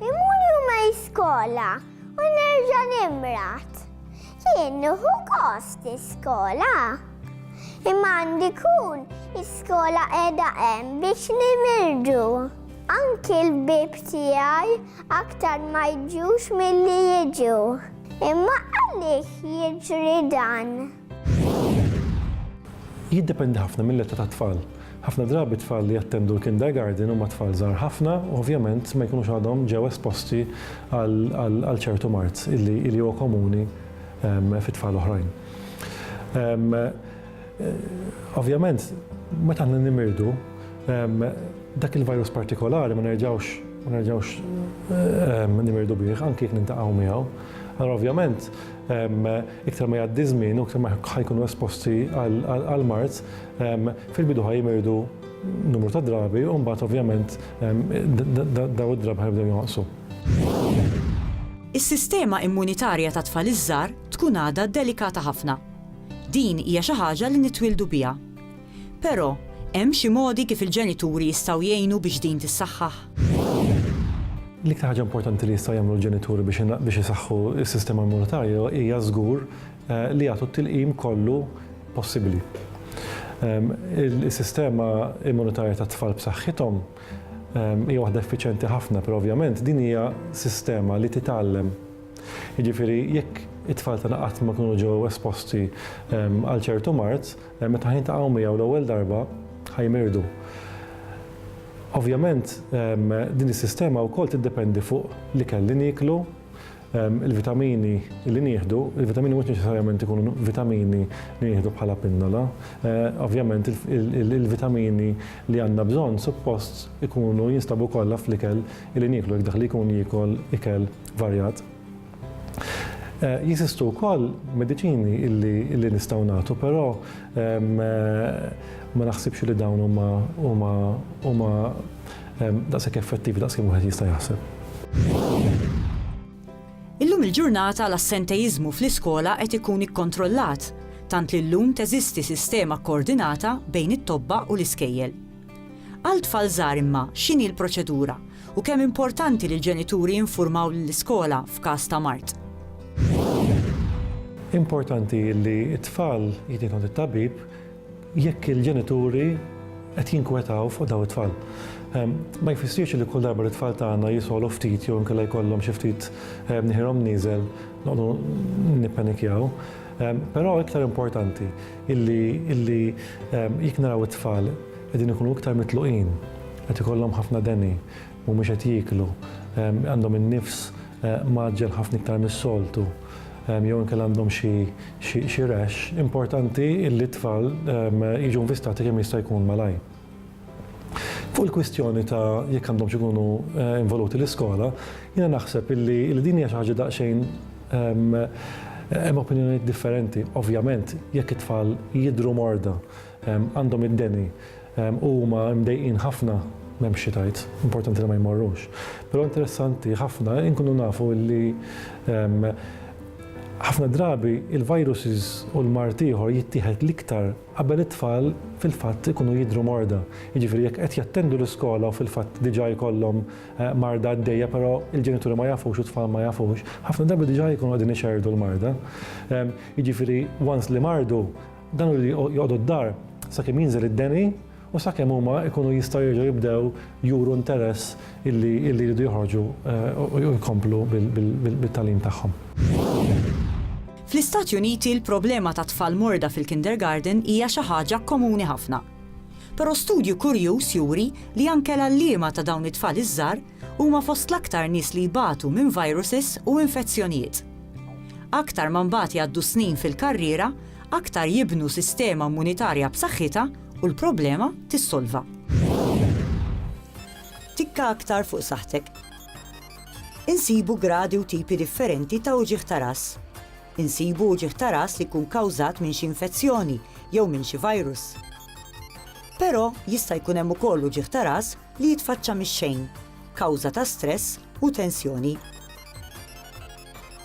Imur juma iskola u nerġa' nimrat. Jien nieħu kost iskola. Imma għandi kun iskola qiegħda hemm biex nimirdu. Anki l-bib tiegħi aktar ma jġux milli jiġu. Imma għaliex jiġri dan? Jiddependi ħafna mill-età tat-tfal. Ħafna drabi t-tfal li jattendu l-kindergarten huma tfal żgħar ħafna u ovvjament ma jkunux għadhom ġew esposti għal ċertu mard li huwa komuni fi tfal oħrajn. Ovvjament, meta aħna nimirdu, dak il-virus partikolari ma nerġgħux ma nerġgħux nimirdu bih anki jekk niltaqgħu miegħu. Allura ovvjament, iktar ma jgħaddi żmien u iktar ma ħajkunu esposti għal mart, fil-bidu ħaj jimirdu numru ta' drabi u mbagħad ovvjament daw id-drabi ħajbdew jonqsu. Is-sistema immunitarja ta' tfal iż-żgħar tkun għadha delikata ħafna. Din hija xi ħaġa li nitwieldu biha. Però, hemm xi modi kif il-ġenituri jistgħu jgħinu biex din tissaħħaħ? L-iktar ħaġa importanti li jistgħu jagħmlu l-ġenituri biex isaħħu s-sistema immunitarja hija żgur li jagħtu t-tilqim kollu possibbli. Is-sistema immunitarja tat-tfal b'saħħithom hija waħda effiċjenti ħafna, però ovvjament din hija sistema li titgħallem. Jiġifieri jekk it-tfal tagħna qatt ma kienu ġew esposti għal ċertu mard, Meta ħajntaqgħu miegħu l-ewwel darba, ħajmirdu. Ovvjament, din is-sistema wkoll tiddependi fuq l-ikel li nieklu, il-vitamini li nieħdu, il-vitamini mhux neċessarjament ikunu vitamini li nieħdu bħala pinnola. Ovvjament, il-vitamini li għandna bżonn suppost ikunu jinstabu kollha fl-ikel li nieklu, jekk dak li jkun jiekol ikel varjat. Jeżistu wkoll mediċini li nistgħu nagħtu, però ma naħsibx li dawn huma daqshekk effettivi daqs kemm wieħed jista' jaħseb. Illum il-ġurnata l-assentejiżmu fl-iskola qed ikun ikkontrollat, tant li llum teżisti sistema kkoordinata bejn it-tobba u l-iskejjel. Għal tfal żgħar imma, x'inhi l-proċedura u kemm importanti li l-ġenituri jinfurmaw lill-iskola f'każ ta' mard? Importanti li t-tfal jitgħin għand it-tabib jekk il-ġenituri qed jinkwetaw fuq daw it-tfal. Ehm, ma jfissirx li kull darba li t-tfal tagħna jisolu ftit jew inkella jkollhom xi ftit ehm, nieħirhom nieżel noqgħdu nippanikjaw. Però iktar importanti illi illi jekk naraw it-tfal qegħdin ikunu iktar mitluqin, qed ikollhom ħafna deni, mhumiex qed jieklu, għandhom in-nifs mgħaġġel ħafna iktar mis-soltu, jew inkella għandhom xi xi rash, importanti illi t-tfal jiġu nvistati kemm jista' jkun malajr. Fuq il-kwistjoni ta' jekk għandhomx ikunu involuti l-iskola, jiena naħseb illi din hija xi ħaġa daqsxejn hemm opinjonijiet differenti. Ovvjament, jekk it-tfal jidhru morda, għandhom id-deni u huma mdejqin ħafna, m'hemmx xi tgħid, importanti li ma jmorrux. Però interessanti ħafna inkunu nafu illi ħafna drabi l-viruses u l-mard ieħor jittieħed l-iktar Qabel it-tfal fil-fatt ikunu jidhru morda, jiġifieri jekk qed jattendu l-iskola u fil-fatt diġà jkollhom marda għaddejja però l-ġenituri ma jafux u t-tfal ma jafux, ħafna drabi diġà jkunu qegħdin ixerrdu l-marda. Jiġifieri once li mardu, dan hu li joqogħdu d-dar sakemm jinżel id-deni, u sakemm huma jkunu jistgħu jerġgħu jibdew juru interess illi jridu joħorġu u jkomplu bit-tagħlim tagħhom. Fl-Istati Uniti l-problema ta' tfal morda fil-kindergarten hija xi ħaġa komuni ħafna. Però studju kurjuż juri li anke l-għalliema ta' dawn it-tfal iż-żgħar huma fost l-aktar nies li jbatu minn viruses u infezzjonijiet. Aktar ma mbagħad jgħaddu s-snin fil-karriera, aktar jibnu sistema immunitarja b'saħħitha u l-problema tissolva. Tikka aktar fuq saħħtek. Insibu gradi u tipi differenti ta' uġigħ ta' ras. Insibu uġigħ ta' ras li jkun kawżat minn xi infezzjoni jew minn xi virus. Però jista' jkun hemm ukoll uġigħ ta' ras li jitfaċċa mix-xejn, kawża ta' stress u tensjoni.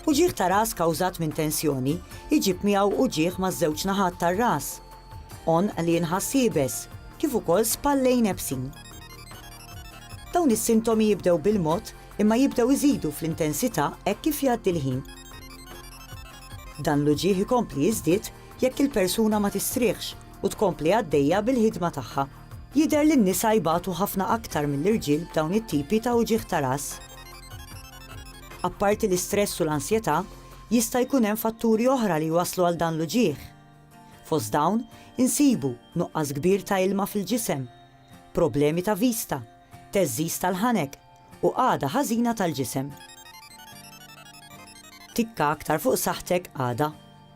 Uġigħ ta' ras kawżat minn tensjoni jġib miegħu uġigħ maż-żewġ naħat tar-ras, għonq li jinħass iebes, kif ukoll spallejn iebsin. Dawn is-sintomi jibdew bil-mod imma jibdew iżidu fl-intensità hekk kif jgħaddi l-ħin. Dan l-uġigħ ikompli jiżdied jekk il-persuna ma tistrieħx u tkompli għaddejja bil-ħidma tagħha. Jidher li n-nisa jbatu ħafna aktar mill-irġiel b'dawn it-tipi ta' uġigħ ta' ras. Apparti l-istress u l-ansjetà, jista' jkun hemm fatturi oħra li jwasslu għal dan l-uġigħ. Fost dawn insibu nuqqas kbir ta' ilma fil-ġisem, problemi ta' vista, theżżiż tal-ħanek u qagħda ħażina tal-ġisem. Tikka aktar fuq saħħtek għada.